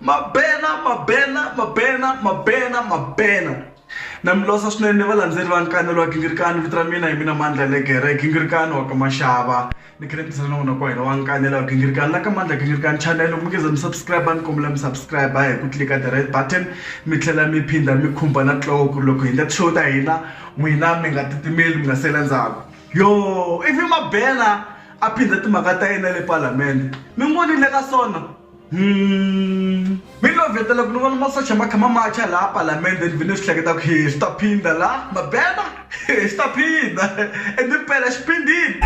mabena mabena mabena mabena mabena na mi losa swinene valandzeri va nkanelo wa gingirikani vito ra mina hi mina mandla legere gingirikani wa ka maxava ni khe ni tirhisana na n'wina ka hina wa nkanelo wa gingirikani la ka mandla gingirikani channel loko mi nge za mi subscribe ni kombela mi subscribe hi ku tlika the red button mi tlhela mi phinda mi khumba na tlowo ku ri loko hi endla ti-show ta hina n'wina mi nga titimeli mi nga sela ndzhaku yo ivi mabena A phindha timhaka ta yena le Palamende. Mi n'wi vonile ka swona? Hum. Mi lo vetela ku ni vona masocha ma kha ma macha laha Palamende ni ve ni swi hleketa ku he swi ta phindha la Mabena he swi ta phindha and impela xi phindhile.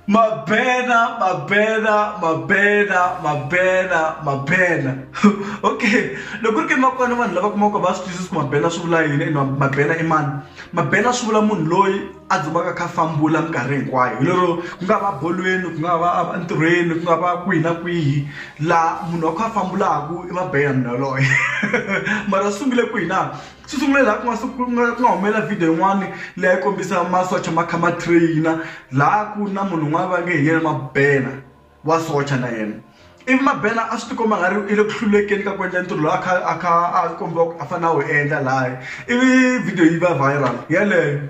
Mabena, Mabena, Mabena, Mabena, Mabena. okay, loko ri ke makwana vanhu lava kumaka va swi twisisa ku Mabena swi vula yini and Mabena i mani? Mabena swi vula munhu loyi a dzumaka kha fambula minkarhi hinkwayo hi lero ku nga va bolweni ku nga va entirhweni ku nga va kwihi na kwihi laha munhu wa kha a fambulaka i Mabena munhu yaloye mara swi sungule kwihi na. Xo sungula laha ku nga ku nga ku nga humelela video yin'wani leyi a yi kombisa masocha ma kha ma train-a laha ku ri na munhu un'wana va nge hi yena Mabena wa socha na yena ivi Mabena a swi tikomba nga ri i le ku hlulekeni ka ku endla ntirho lowu a kha a kha a kombiwa ku a fanele a wu endla lahaya ivi video yi va viral yeleyo.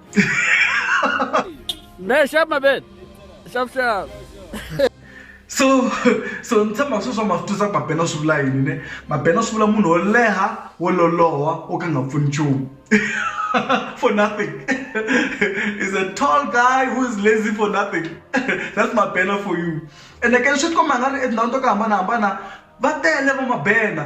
Hey, shut my bed. Shut shut. so so ni tshemba swi swa ma swi twisa ku mabena swi vula yini ne mabena swi vula munhu wo leha wo loloha wo ka nga pfuni nchumu for nothing is a tall guy who is lazy for nothing that's mabena for you ene ke swi tikomba nga ri etindhawini to ku hambanahambana va tele va mabena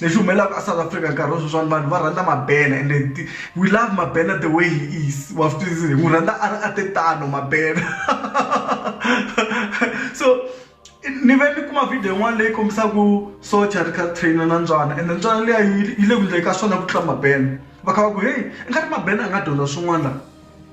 lexi humelelaka a South Africa nkarhi wa sweswiwani vanhu va rhandza Mabena ende we love Mabena the way he is wa swi twisisa hi n'wi rhandza a ri a te tano Mabena so ni ve ni kuma video yin'wana leyi kombisaka socha a ri kha a trainer na Ntswalo ende Ntswalo liya yi le ku endleni ka swona ku tlula Mabena va kha va ku heyi i nga ri Mabena a nga dyondza swin'wana laha.